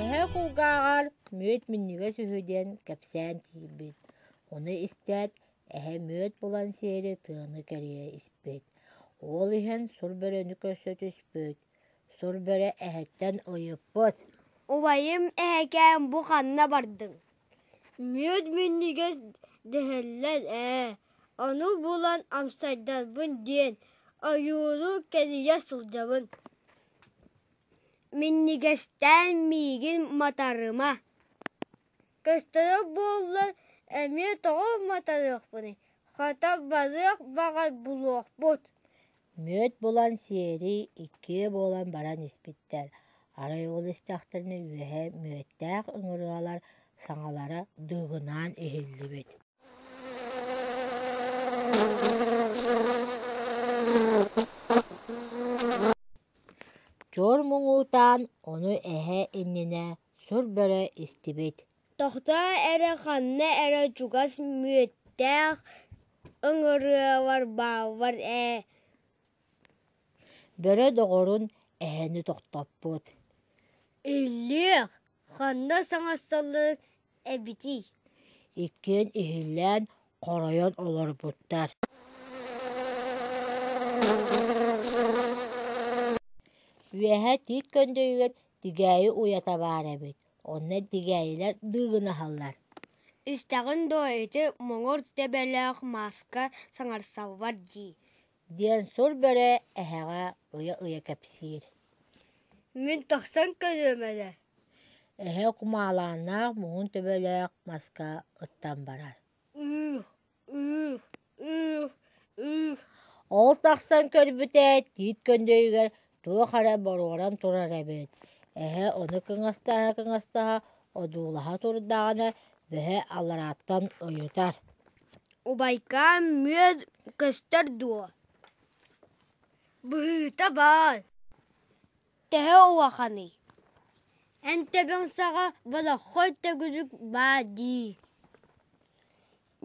Эһэ кулгааҕар мүөт минньигэс үһү диэн кэпсээн тиийбит. Ону истээт, эһэ мүөт булан сиэри тыаны кэрийэ испит. Уол иһэн сур бөрөнү көрсө түспүт. Сур бөрө эһэттэн ыйыппыт: «Убайым, эһэкээн бу ханна бардыҥ?» мүөт минньигэс дэһэллэр ээ ону булан амсайдарбын диэн ойууру кэрийэ сылдьабын минньигэстээн миигин матарыма көстөрө буоллар эмиэ тоҕо матарыахпыный хата барыах баҕай булуохпут Мүөт булан сиэри иккиэ буолан баран испиттэр, арай ол истэхтэринэ үөһэ мүөттээх ыҥырыалар саҥалара дыыгынаан иһиллибит Чуор муҥуутаан ону эһэ иннинэ сур бөрө истибит Тохтоо эрэ ханна эрэ чугас мүөттээх ыҥырыалар бааллар ээ бөрө доҕорун эһэни тохтоппут Иллиэх, ханна саҥарсаллыыр эбитий иккиэн иһиллээн хоройон олорбуттар Үөһэ тиит көндөйүгэр тигээйи уйата баар эбит Онно тигээйилэр дыыгынаһаллар «Истэҕин дуо ити моҥур тэбэлээх мааска саҥарсаллар дии» диэн сур бөрө эһэҕэ ыйа-ыйа кэпсиир «Мин тахсан кэлиэм эрэ» Эһэ кумаалааннаах муҥун төбөлөөх маска ыттан барар Ол тахсан көрбүтэ тиит көндөйүгэр туох эрэ боруоран турар эбит, эһэ ону кыҥастаһа-кыҥастаһа одуулаһа турдаҕына бэһэ аларааттан ыйытар: «Убайкаам, мүөт көстөр дуо?» «Быһыыта баар» Төһө улаханый? Эн төбөҥ саҕа болоххой төгүрүк баа дии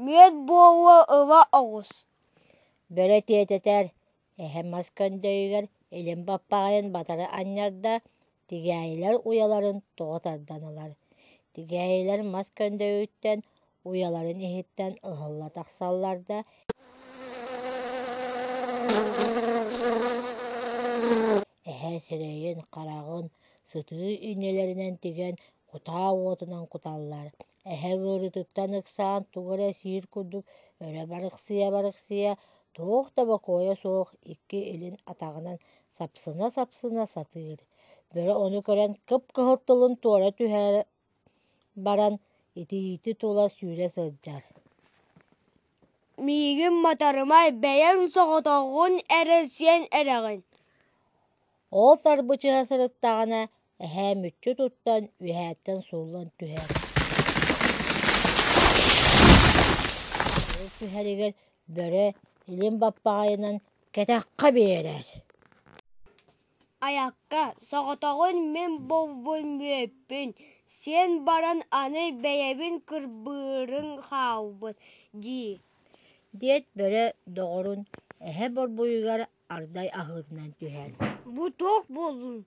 Мүөт буолуо ыла оҕус Бөрө тиэтэтэр, эһэм мас көндөйүгэр илин баппаҕайын батары анньарда, тигээйилэр уйаларын тоҕо тардан ылар Тигээйилэр мас көндөйүттэн уйаларын иһиттэн ыһылла тахсаллар да эһэ сирэйин хараҕын сытыы инилэринэн тигэн кутаа уотунан куталлар эһэ ыарыытыттан ыксаан тугу эрэ сиир курдук өрө барыксыйа барыксыйа туох да бокуойа суох икки илин атаҕынан сапсына сапсына сатыыр бөрө ону көрөн кып кыһыл тылын туора түһээри баран итиити тула сүүрэ сылдьар миигин матарымай бэйэҥ соҕотоҕун эрэ сиэн эрэҕин ол тарбычыһа сырыттаҕына эһээ мүччү туттан үөһээттэн сууллан түһэр ол түһэригэр бөрө илин баппаҕайынан кэтэххэ биэрэр Айакка, соҕотоҕун мин булбун мүөппүн, сиэн баран аны бэйэбин кырбыырын хаалбыт дии диэт бөрө доҕорун эһэ борбуйугар ардай аһыытынан түһэр: «Бу туох буоллун,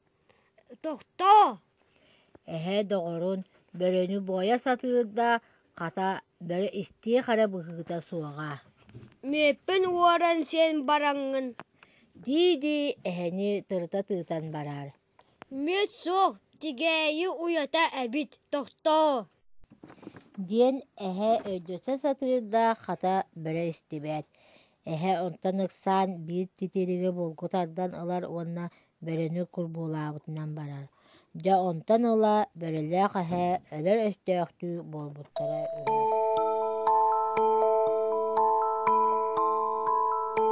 тохтоо!» Эһээ доҕорун бөрөнү буойа сатыыр да, хата, бөрө истиэх эрэ быһыыта суоҕа «Мүөппүн уоран син бараҥҥын» дии-дии эһэни тырыта тыытан барар «Мүөт суох, тигээйи уйата эбит, тохтоо» диэн эһээ өйдөтө сатыыр да, хата, бөрө истибэт Эһэ онтон ыксаан биир титириги булгу тардан ылар уонна бөрөнү курбуулаабытынан барар. Дьэ онтон ыла бөрөлөөх эһэ өлөр өстөөхтүү буолбуттара үһү